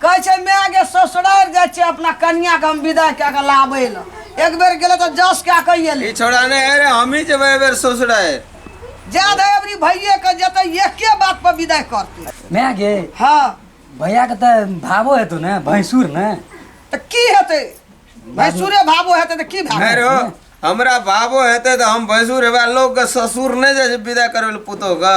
कहै छै माय गे ससुरारि जाइ छै अपना कनियाके हम विदाइ कए कऽ लाबै लए एक बेर गेलै तऽ जस कए कऽ ई एलै छोड़ा नहि है रे हमही जेबै एहि बेर ससुरारि जायद है अबरी भैये के जेतै एके बात पर विदाइ करतै माय गे हँ भैया के तऽ भावो हेतौ ने भैंसुर ने तऽ की हेतै भैंसुरे भावो हेतै तऽ की भाव अरे हो हमरा बाबो हेतै तऽ हम भैंसुर हेबै लोकके ससुर नहि जाइ छै विदा करबै लए पुतोहके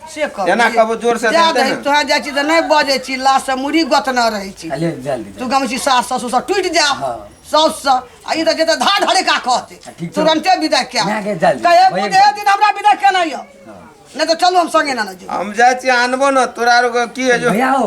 से कह एना कहबो जोर से जा देतै दही ने। तोहर जाइ छी तऽ नहि बजै छी लाश से मुड़ी गोतना रहै छी अले जल्दी तू गम छी सास ससुर सब टूटि जा हाँ। साउस से आ ई तऽ जेतै धार ढरे का कहते आ, ठीक छै। तुरंते विदा क्या ना के जल्दी। कहे वही बुझे दिन हमरा विदा केना यौ नहि तऽ चलू हम संगे ना ना जेबै हम जाइ छी आनबो ने तोरा आर के की है जो भैया हो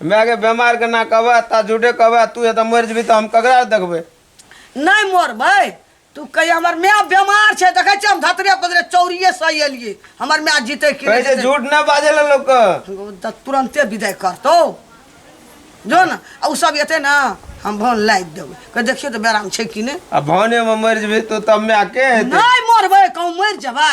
मायके बेमारके ना कहबै ता झूठे कहबै तू एतऽ मरि जेबी तऽ हम ककरा देखबै नहि मरबै तू कहिया हमर माय बेमार छै देखै छियै हम धतरे पतरे चौरिये से एलियै हमर माय जीतै कि कहै छै जीतै। झूठ नहि बाजै लए लोकके तऽ तुरन्ते विदाइ करतौ जो ने आ ओ सब एतै ने हम भन लागि देबै कह देखियौ तऽ बेराम छै कि नहि आ भानेमे मरि जेबी तू तब मायके हेतै नहि मरबै कहूँ मरि जेबै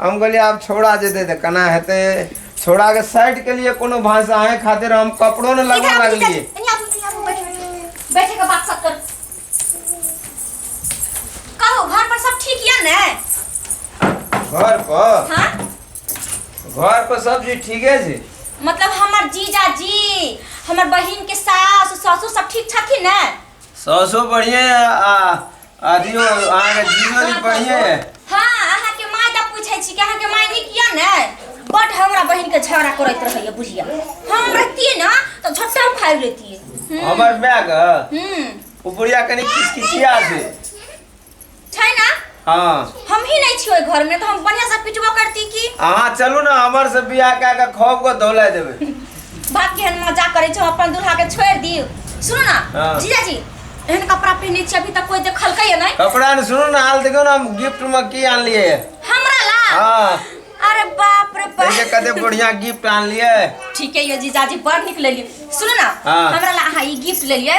हम कहलिए आब छौड़ा जेतै तऽ केना हेतै छौड़ाके साइडके लिए कोनो भाषा अहेँ खातिर हम कपड़ो नहि लगबऽ लगलियै बैठे के बात सब कर कहो घर पर सब ठीक या ने घर पर हाँ घर पर सब चीज ठीके छै मतलब हमर जीजा जी हमर बहिन के सास ससुर सब ठीक छथिन ने सासो बढ़िए आ आदियो अहाँ के जीरो दी बढ़िया है हाँ अहाँ के माय दा पूछे छी कि अहाँ के माय नीक या ने बट हमरा बहिन के झगड़ा करैत रहैया बुझिया हम रहतिए ना तो झट्टा फाड़ लेतिए हमर माय ग हम्म ओ बुढ़िया कनी किचकिचिया छै छै ना हाँ हम ही नहीं छी ओइ घर में तो हम बढ़िया से पिटबो करती की अहाँ चलू ने हमर से बियाह कए के खौफ के धोला देबै बाप केहन मजाक करै छौ अपन दूल्हा के छोड़ दियो सुनो ना हाँ। जीजा जी एहन कपड़ा पहने छी अभी तक कोई देखलकै या नहीं कपड़ा ने सुनो ना हाल देखो ना हम गिफ्ट में की आन लिए हमरा ला हाँ अरे बाप रे बाप देखिए कते बढ़िया गिफ्ट आन लिए ठीक है ये जीजा जी बड़ निकल लिए सुनो ना हाँ। हमरा ला अहाँ ई गिफ्ट ले लिए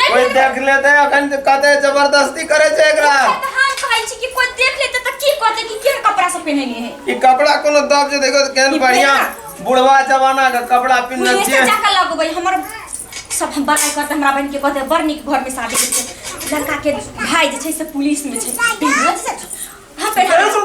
नहि कोई देख लेते अखन त कहते जबरदस्ती करे छै एकरा हम तऽ हाथ कहै छी कि कोइ देख लेतै तऽ की कहतै कि केहन कपड़ा सब पहिनेने है ई कपड़ा कोनो दब जे देखो त केहन ई बढ़िया पेड़ा। बुढ़वा जमाना के कपड़ा पिन्हने मुझे छिए सजा के लगबै हमर सब हम बड़ाई करते हमरा बहन के कहते बड़ नीक घर में शादी के छै लड़का के भाई जे छै से पुलिस में छै बिलकुल सच हम पहना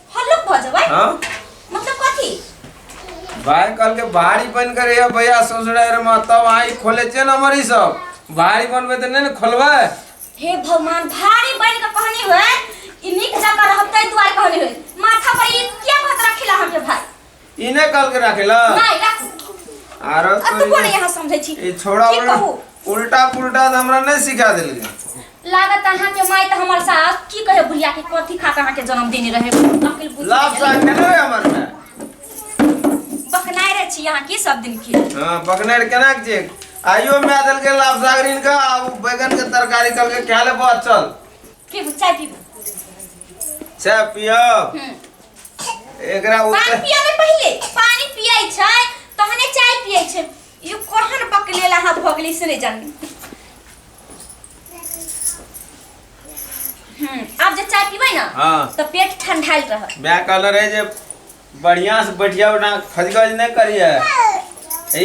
हल्लुक भ जबै हाँ मतलब कथी भाई कल के भारी बन कर ये भैया ससुरा रे माँ तब आई खोले छे ना मरी सब भारी बनबे तो नहीं ना खोलबे हे भगवान भारी बन के कहनी होय इनिक जका रहतै दुआर कहनी होय माथा पर ई क्या बात रखिला हम ये भाई ई नहि कहलकै राखे ला नहीं रख आरो अब तू कोने यहाँ समझे छी ई छोड़ा की बड़ा कहू उल्टा पुल्टा तऽ हमरा नहि सिखा देलकै लागत अहाँ के माय त हमर सास की कहे बुढ़िया के कथी खा के अहाँ के जन्म देने रहे अकिल बुद्धि लाभ के। साग केना रे हमर में बकनाय रे छी अहाँ की सब दिन के हाँ बकनेर केना के चेक आइयो में देलकै लाभ साग ऋण का आ उ बैगन के तरकारी कहलकै खा ले बहुत चल पीबू चाय पीबू चाय पियब हम्म एकरा पानी उत्तर पिया में पहले पानी पियै छै तहने चाय पियै छै ई कोहन बकलेला हाथ भऽ गेलै से नहि जानी हम्म, आब जे चाय पीबै ने हाँ तऽ पेट ठंडायल रहत मैं कहल रहे जे बढ़िया से बैठिया ना खजगज नहीं करिए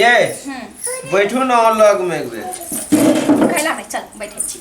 ये हम्म, बैठू ना लग में एक बेर खैला नहि चल बैठे छी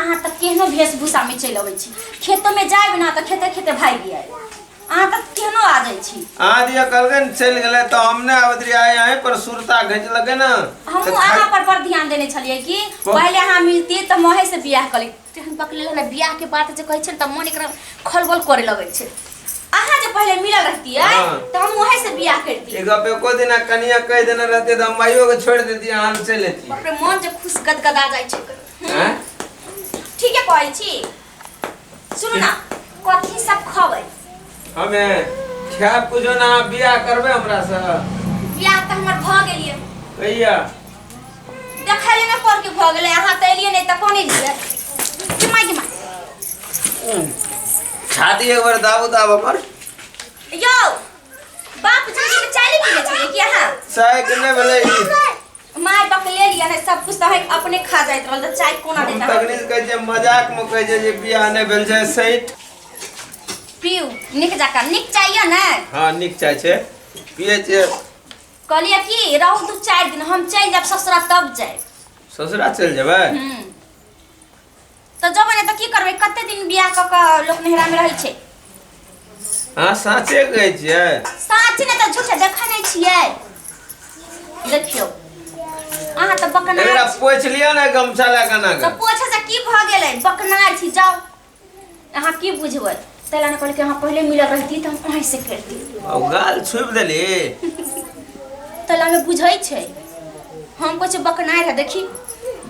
अहाँ तऽ केहनो वेशभूषामे चलि अबै छी खेतोमे जायब ने तऽ खेते खेते भागि आयब अहाँ तऽ केहनो आ जाइ छी अहाँ दिया कहलकै ने चलि गेलै तऽ हम नहि आबैत रहियै आइ अहीं पर सुरता घिचलकै ने तऽ हमहूँ खा- अहाँ पर पर ध्यान देने छलियै कि कोन? पहिले अहाँ मिलती तऽ महे से बियाह करी तेहन पकड़ले ने बियाह के बात जे कहै छै ने तऽ मन एकरा खलबल करे लगै छै अहाँ जे पहिले मिलल रहतियै हाँ। तऽ हम वहीं से बियाह करती ई गप एको दिना कनिया कहि देने रहते तऽ हम माइयो के छोड़ि देती अहाँ चलि अयती बाप रे मन जे खुश गदगदा जाइ छै हैं ठीक है कहै छी सुनू ना कथी सब खबै हमे खायब कुछो ना बियाह करबे हमरा से बियाह तऽ हमर भऽ गेलियै कहिया देखै ले ना पर के भऽ गेलै अहाँ तऽ एलियै नहि तऽ कोन एलियै गिमा गिमा छाती एक बार दाबो दाब हमर यौ बाप जी के चाली पीने छलियै कि अहाँ साइकिल ने भेलै ई। माय बाप ले लिया है सब कुछ तहक अपने खा जाइत रहल त चाय कोना हम देता तकनीक कहै छै मजाक में कहै छै जे बियाह नहि भेल छै सैट पीऊ निक जाका निक चाहिए ना हाँ नीक चाय छै पियै छै कहलिए कि रहू दू चार दिन हम चल जाब ससुरा तब जाए ससुरा चलि जेबै हम्म तऽ जब ने तऽ की करबै कते दिन बियाह कऽ कऽ लोक नहिरा में रहै छै अहाँ साँचे कहै छियै साँच ने तऽ झूठ देखै नहि छियै देखियौ अहाँ तऽ बकना एकरा पोछि लिअ ने गमछा लए कना तऽ पोछे से की भऽ गेलै बकनार छी जाउ अहाँ की बुझबै से लाने कहले कि हाँ पहले मिलल रहती तो हम वहीं से खेलती आ उ गाल छुप देली तो लागे बुझै छै हम कुछ बकनाए रह देखी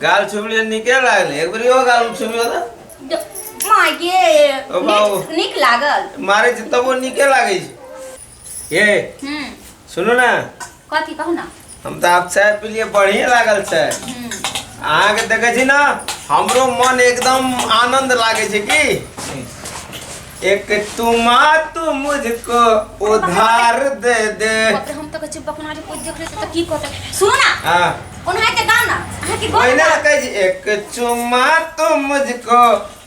गाल छुपली निके लागल एक बेर यो गाल छुपी होला द- माय गे ओ बाबू। नीक- नीक लागल मारे छै तबो निके लागै छै ये हम्म सुनू ना कथी कहू ना हम तो आप चाय पी लिए बढ़िया लागल छै हम्म अहाँ के देखे छी ना हमरो मन एकदम आनंद लागे छै की एक तुमा तू मुझको उधार दे दे बाप रे, हम तो कछु बकना जे कुछ देख रहे थे तो की कहते सुनो ना हाँ उन्हें के गाना अहाँ के गाना ओहिना कहै छी एक चुमा तू मुझको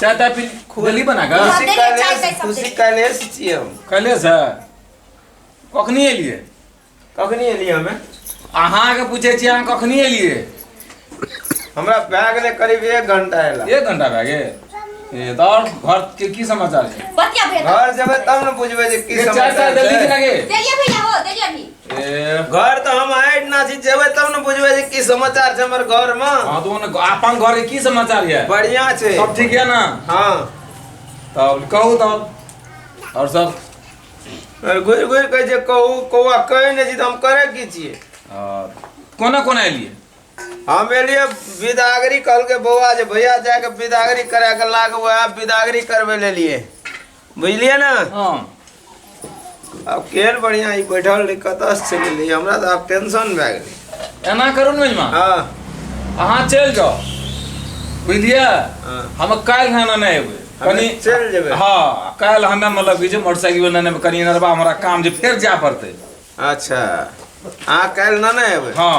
चाय ताय पी खोली बना का खुशी देंगे, चाय कलेश ताय सब खुशी देंगे। कलेश छियै हम कले से कखनी एलिए कखनी एलियै हमे अहाँ के पूछे छी अहाँ कखनी एलिए हमरा भए गेलै करीब एक घंटा एला एक घंटा भए गेल ए तऽ आओर घर के की समाचार छै बतिया भेल घर जेबै तब ने बुझबै जे की चाय समाचार ताय देली कि छै ना गे देलिए भैया हो देलिए अभी घर तो हम आए ना जी जेबे तब न बुझबे जे की समाचार छै हमर घर में हां तो न अपन घर के की समाचार है बढ़िया छै सब ठीक है ना हां तब कहू तब और सब घुर घुर के जे कहू कौआ कहे ने जी हम करे की छिए कोना कोना एलिए हम एलिए विदागरी कल के बौआ जे भैया जाके विदागरी करा के लाग वह विदागरी करबे ले लिए बुझलियै ने हाँ आब केहन बढ़िआँ ई बैठल रहै कतऽसँ चलि एलै हमरा तऽ आब टेंशन भए गेलै एना करू ने मेजमा हँ अहाँ चलि जाओ बुझलियै हाँ। हम काल्हि हन नहि एबै हमे चलि जेबै। हाँ काल्हि हमे मतलब की छै मोटरसाइकिल लेने कनी नरबा हमरा काम जे फेर जाए पड़तै अच्छा अहाँ काल्हि नहि ने एबै हाँ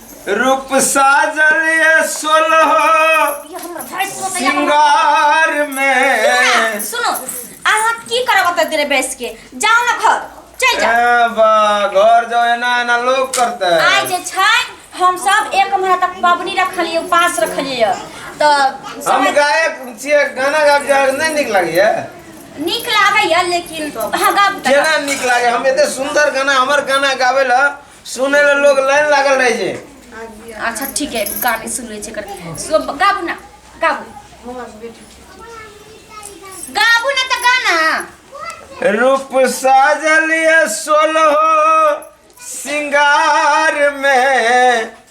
रूप साजल ये सोलह ये हमर भाई को तो यहाँ- सिंगार में सुनो अहाँ की करब ओतऽ देर बैस के जाओ ना घर चल जाओ ए बा घर जाओ एना एना लोग करते आइ जे छै हम सब एक महीना तक पबनी रखलिए उपास रखलिए तऽ हम समय गायक छियै गाना गाब जाए नहीं निक लागैए नीक लागैए लेकिन अहाँ गाब केना निक लागे हम एते सुंदर गाना हमर गाना गावे ला सुने ले लोग लाइन लागल रहे जे अच्छा ठीक है गाने सुन ले कर सो गाबू ना गाबू गाबू ना तो गाना रूप साजलिए सोलहो सिंगार में